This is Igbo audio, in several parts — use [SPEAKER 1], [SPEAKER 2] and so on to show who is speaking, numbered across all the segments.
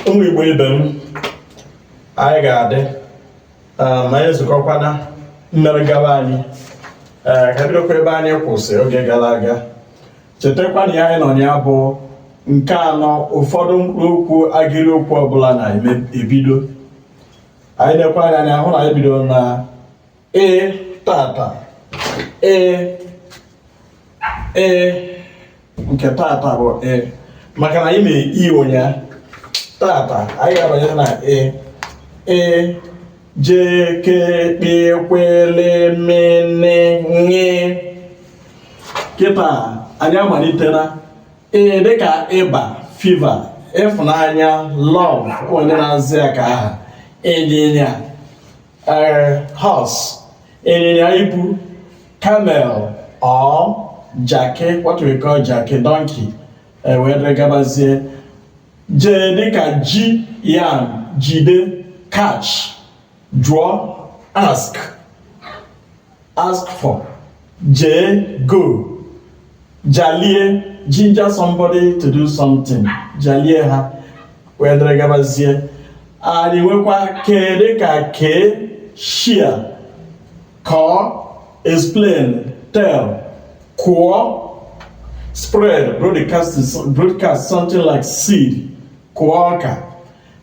[SPEAKER 1] ụmụ igbo ibe m anyị ga-adị um, ma anyị zukọkwana mmere gaba anyị ee ka bidokwa ebe anyị kwụsị oge gara aga chetakwa na ihe anyị nọ ya bụ nke anọ ụfọdụ mkpụrụ okwu agịrị okwu ọbụla na-ebido anyị nekwa anya anyị ahụ na anyị bidoro na ee tata ee ee nke tata bụ ee maka na anyị mere i ụnyaahụ tata anyị ga-abanye na ee ee je ke kpe kwe le me ne nye kịta anyị amalitela ee dịka ịba fever ịfụnanya love onye na-azị ya ka aha ịnyịnya ee horse ịnyịnya ibu camel or jaki what we call jaki donkey ewere gabazie jee dịka ji yam jide catch jụọ ask horse for jee go jalie ginger somebody to do something jalie ha wee dịrị gabazie anyị nwekwa kee dịka kee share kọọ explain tell kụọ spread broadcast something like seed kụọ ọka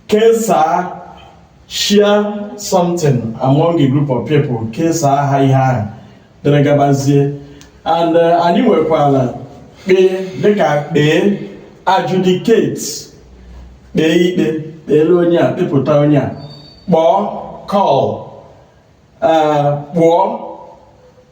[SPEAKER 1] kesaa share something among a group of people kesaa ha ihe ahụ dịrị gabazie and uh, anyị nwekwara kpee dịka kpee adjudicate kpee ikpe kpeere onye a kpepụta onye a kpọọ call uh, kpụọ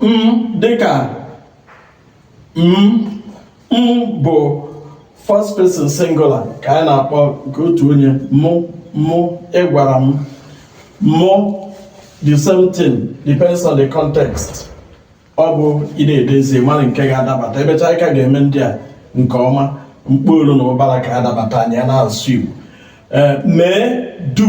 [SPEAKER 1] m dịka m m bụ first person singular ka anyị na-akpọ nke otu onye mụ mụ ị gwara m mụ the same thing depends on the context ọ bụ ị na-edezi mara nke ga-adabata emecha anyị ka ga-eme ndị a nke ọma mkpọolu na ụbara ka adabata anyị na-asụ Igbo eh, mee do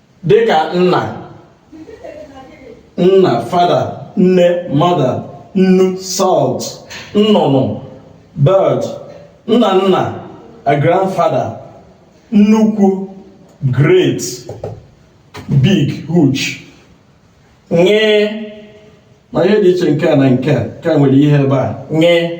[SPEAKER 1] dịka nna nna father nne mother nnu salt nnụnụ bird nna nna a grandfather nnukwu great big huge nye ma ihe dị iche nke a na nke a ka nwere ihe ebe a nye